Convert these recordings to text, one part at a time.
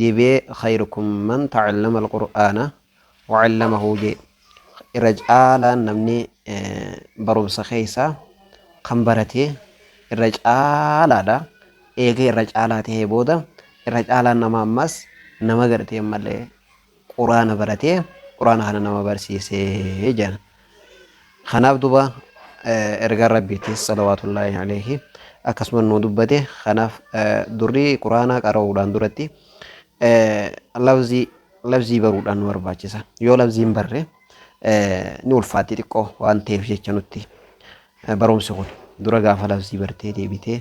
debi'ee khayrukum man ta'allama alqur'aana wa'allamahuu jee irra caalaan namni barumsa keeysaa kan baratee irra caalaadha eega irra caalaa tahee booda irra caalaan nama ammaas nama gartee malee quraana baratee quraana kana nama barsiise jedhan kanaaf duba ergaan rabbiitis salawaatullaahi aleehi akkasuma nu dubbate kanaaf durri quraanaa qara'uudhaan duratti labzii labzii baruudhaan nu barbaachisa yoo labziin barre ni ulfaatti xiqqoo waan ta'eef jecha nutti barumsi kun dura gaafa labzii bartee deebitee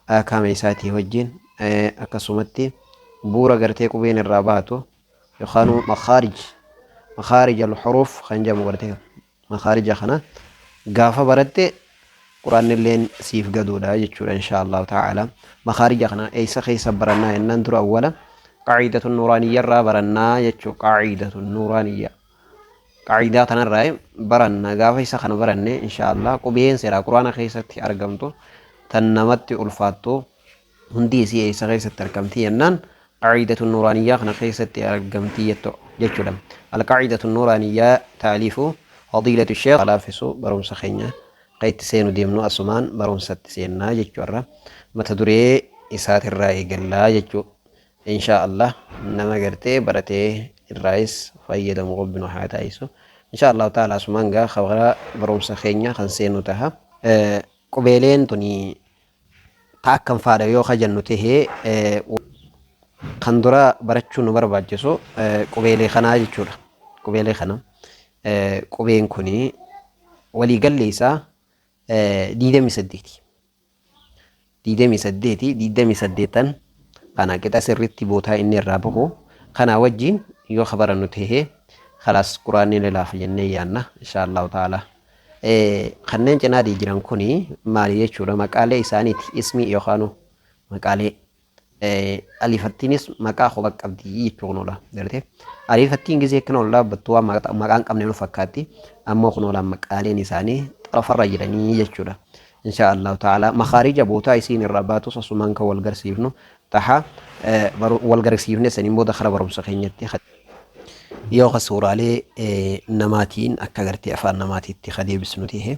aakaama isaatii wajjiin akkasumatti buura gartee qubeen irraa baatu yookaanuu makaarij makaarij alxuruuf kan jedhamu gartee makaarija kana gaafa baratte quraanni illeen siif gaduudha jechuudha inshaa allahu ta'ala makaarija kana eessa keessa barannaa jennaan dura awwala qaaciidatu nuuraaniyya irraa barannaa jechuu qaaciidatu nuuraaniyya Qa'iidaa tanarraa baranna gaafa isa kana baranne inshaallah qubeen seeraa quraana keessatti argamtu tan namatti ulfaattu hundi isii eessa keessatti argamti jennaan qa'iidatu nuuraaniyyaa kana keessatti argamti jettu jechuudha. Alqa'iidatu nuuraaniyyaa taaliifu fadiilatu sheekh laaffisu barumsa keenya kan itti seenu deemnu asumaan barumsatti seennaa jechuudha. Mata duree isaatirraa eegallaa jechuu Inshaa Allah nama gartee baratee irraayis fayyadamu rabbi nu haa taasisu inshaa Allah ta'ala asumaan gaa kabaraa barumsa keenya kan seenu taha qubeeleen tuni ta akkam faadha yoo kajannu tahee kan dura barachuu nu barbaachisu qubeelee kanaa jechuudha qubeelee kana qubeen kuni walii galli isaa diidamii saddeeti. digdamii saddeet digdamii saddeettan kana qixa sirritti bootaa inni irraa bahu kanaa wajjiin yoo ka barannu tahee kalaas quraanni ni laafa jennee yaanna inshaa allahu ta'ala kanneen cinaadii jiran kuni maali jechuudha maqaalee isaaniiti ismii yookaanu maqaalee Aliifattiinis maqaa kophaa qabdi jechuu kunoodha. Gartee aliifattiin gisee akkana ol dhaabbattu waan maqaa hin qabne nu fakkaatti. Ammoo kunoodha maqaaleen isaanii xarafarra jiranii jechuudha. Inshaa Allahu ta'ala makaarija bootaa isiin irraa baatus asumaan kan wal garsiifnu taha wal garsiifne saniin booda kara barumsa keenyatti yoo ka suuraalee namaatiin akka gartee afaan namaatiitti ka deebisnu ta'e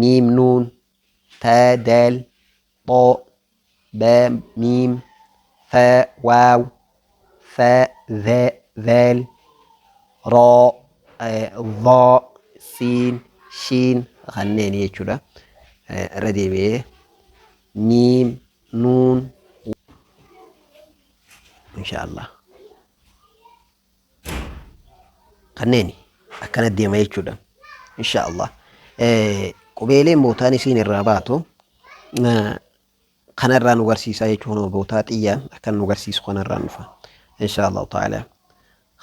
miim nuun ta dal xo ba miim fa waaw fa za zal ro vo siin shiin kanneen jechuudha. Irra deebi'ee miim nuun insha Allah. kanneeni akkana deema jechuudha insha Allah qubeelee bootaan isiin irraa baatu kanarraa nu garsiisaa jechuun bootaa xiyyaa akka nu garsiisu kanarraa nufa insha Allah ta'ala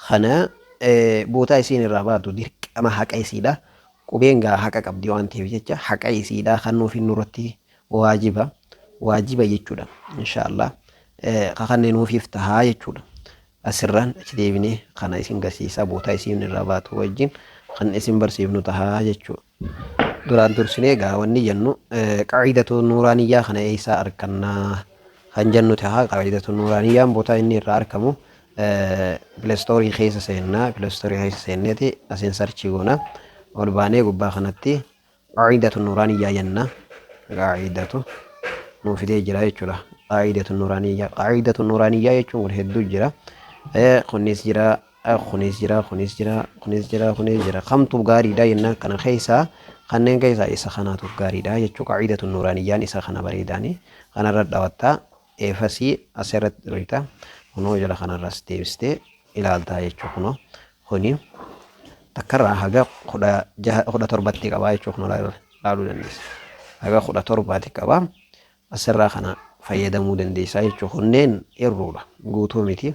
kana bootaa isiin irraa baatu dirqama haqa isiidha qubeen gaa haqa qabdi waan ta'eef jecha haqa isiidha kan nuuf hin nurratti waajiba waajiba jechuudha insha Allah kakannee nuuf iftahaa jechuudha Asirraan achi deebinee kana isin garsiisaa bootaa isiin irraa baatu wajjin kan isin barsiifnu tahaa jechuu. Duraan dursinee egaa wanni jennu qa'iidatu nuuraaniyyaa kana eessaa arkannaa kan jennu tahaa qa'iidatu nuuraaniyyaan bootaa inni irraa arkamu pilestoorii keessa seennaa pilestoorii keessa seenneeti asiin sarchii goona ol baanee gubbaa kanatti Qaa'iidatu Nuuraaniyyaa jenna. Qaa'iidatu nuu fidee jira jechuudha. Qaa'iidatu Nuuraaniyyaa. Qaa'iidatu Nuuraaniyyaa jechuun kun hedduu jira. Eh, Kunis jira, eh, kunis jira, kunis jira, kunis jira, kunis jira. Kamtu gaariidha jennaan kana keessaa kanneen keessaa isa kanaatu gaariidha jechuu qaa'iidatu Nuuraaniyyaan isa kana bareedaani. Kanarra dhawattaa Eefasii as irratti dhooyta. Kunoo jala kanarraas deebistee ilaaltaa jechuudha kunoo. Kuni takkarraa haga kudha jaha kudha torbatti qabaa jechuudha kunoo laal- laaluu dandeessa. Haga kudha torbaati qabaa. Asirraa kana fayyadamuu dandeessaa jechuudha. Kunneen irruudha. Guutuu miti.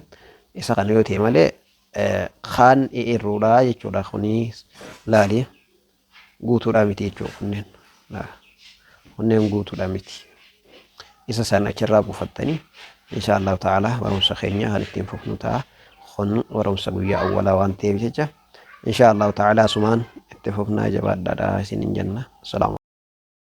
Isa kana yoo ta'e malee eh, kaan irruudha jechuudha. Kuni laali. guutuudhaa miti jechuudha kunneen. Kunneen guutuudhaa miti. Isa san achirraa buufattanii insha Allahu ta'ala barumsa keenya kan ittiin fufnu ta'a. Kun barumsa guyyaa awwalaa waan ta'eef jecha insha Allahu ta'ala asumaan itti fufnaa jabaadhaadha isinin jenna. Salaamu